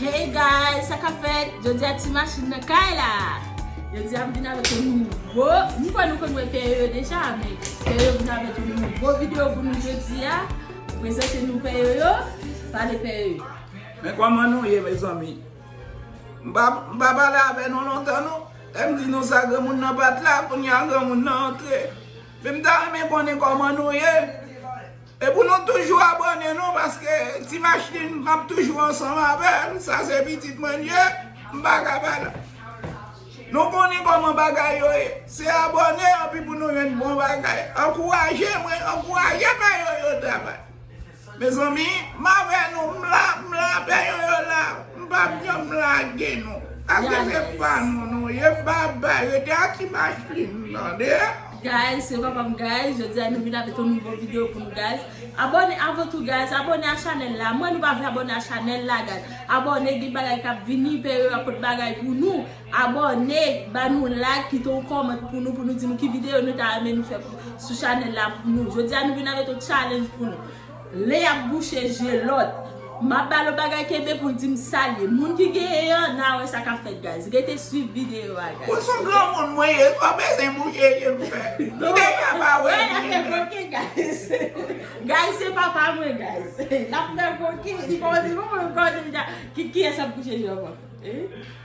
Hey guys sa kap fèt jodi a ti machin nan kay la jodi a m vin avèk yon nouvo m kwè nou konn wè pè yoyo deja men pè yoyo vin avèk yon nouvo video pou nou jodi a prezante nou pè yoyo pale pè yoyo men kòman nou ye mezanmi m pa m pa pale avè nou lontan non lè m di nou sa granmoun nan pat la kounya granmoun nan antre men m ta renmen konnen kòman nou ye. E pou nou toujou abòne nou paske ti machlin map toujou ansanm avèl sa se pitit mwen l ye m pa ka pa la nou konnen kòman bagay yo ye se abòne anpi pou nou jwenn bon bagay ankouraje mwen ankouraje pè yoyo travay mezanmi m avè nou m la m la pè yoyo la m pap janm lage nou paske se pa nou nou ye bby rete ak ti machlin tande. Guys se papam guys jodia nou vin avek yon nouvo video pou nou guys abone avn tou guys abone a chanel la mwen nou pa vle abone a chanel la guys abone gen bagay kap vini pè yo ap pot bagay pou nou abone ba nou like kite yon comment pou nou pou nou di nou ki video nou ta renmen nou fè sou chanel la pou nou jodia nou vin avek yon challenge pou nou. Lè yap bouche je lòt. Map balo bagay kenbe poul dim sal ye moun ki genyen an na wè sa kap fèt guys rete swiv video a guys ok. Ou sou granmoun mwen ye san bezwen bouche je m fè m deja pa wè byen nan. Lap fè koken guys guys se papa mwen guys lap fè koken li pa wè se papa mwen kiyès ap bouche je ankò.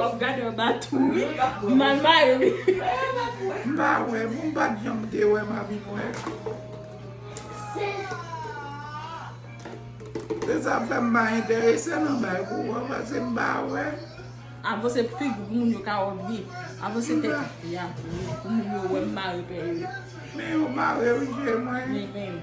Wap gade yon baton wi. Ou mal mare wi. M pa wè pou m pat janm te wè ma vin wè. Se sa fè m pa enterese nan bay pou wè pase m pa wè. Avanse fig ou pou moun yo ka wè w byen. Avanse tèt ou pi a pou moun yo wè m mare pè yo. Men yo mare wi je mwen. Men men.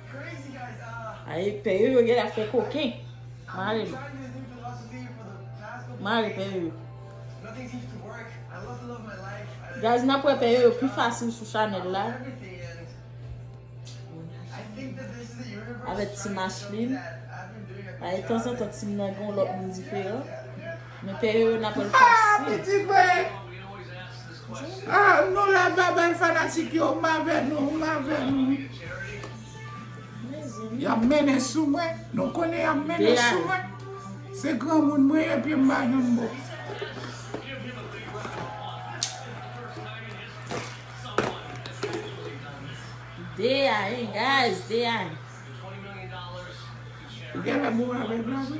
Ae pè yo yo gèlè ap fè koken. Mare nou. Mare pè yo yo. Guys nap wè pè yo yo pi fasil sou chanèl la. Avèk ti Macheline. Ae tanzantan ti m nan gen yon lòt moun diferan. Men peye yo nan pwèl fasil. Ah nou la bye bye fanatik yo m avè nou m avè nou. Yap mennen sou mwen nou konnen yap mennen sou mwen se granmoun mwen ye pye m pa janm bon. Dea hein guys dea. Ou genlè bon avèg la vre.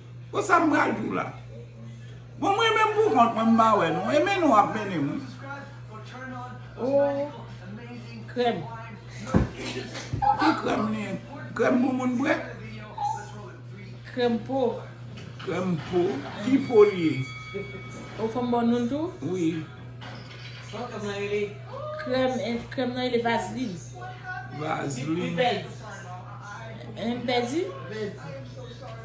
Bon sa m pral di w la. Bon m renmen m pou kont mwen m pa wè nou. E mennen w ap mennen m wi. Ooh krèm. Ki krèm li ye? Krèm pou moun bwè? Krèm po. Krèm po. Ki po li ye? Ou fè m ba w non l tou? Wi. Bon krèm nan rele? Krèm krèm nan rele vazlin. Vazlin. Li pli bèz. Li pli bèz. Li pli bèz.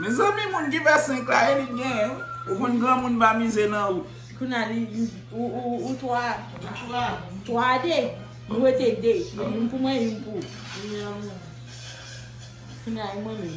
Mezanmi moun ki fè 5 la e li t genyen wi ou konn granmoun pa mize nan ou. Kounya li ou 3 3 a 2 nou rete 2 youn pou mwen youn pou kounya e mwen menm.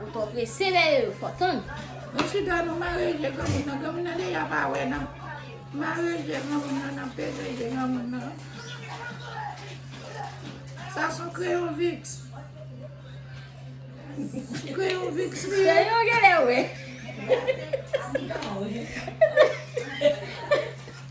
Ou twò prese lè yo fò tann. Mesye dam yo mare je granmoun nan, granmoun nan deja pa wè nan. Mare je granmoun nan nan peze je granmoun nan. Sa son kreyon viks. Kreyon viks li ye. Kreyon genlè wè.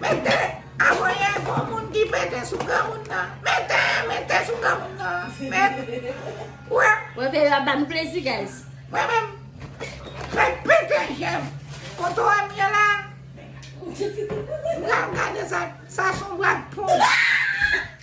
Mete! Avoye gwo moun ki pete sou granmoun nan. Mete! Mete sou granmoun nan. Met! Wè! Wè vè yo ap ba nou plezi guys. Mwen menm. Met pete jèm. Foto M ye la. M pral gade sa. Sa son bwa de pon.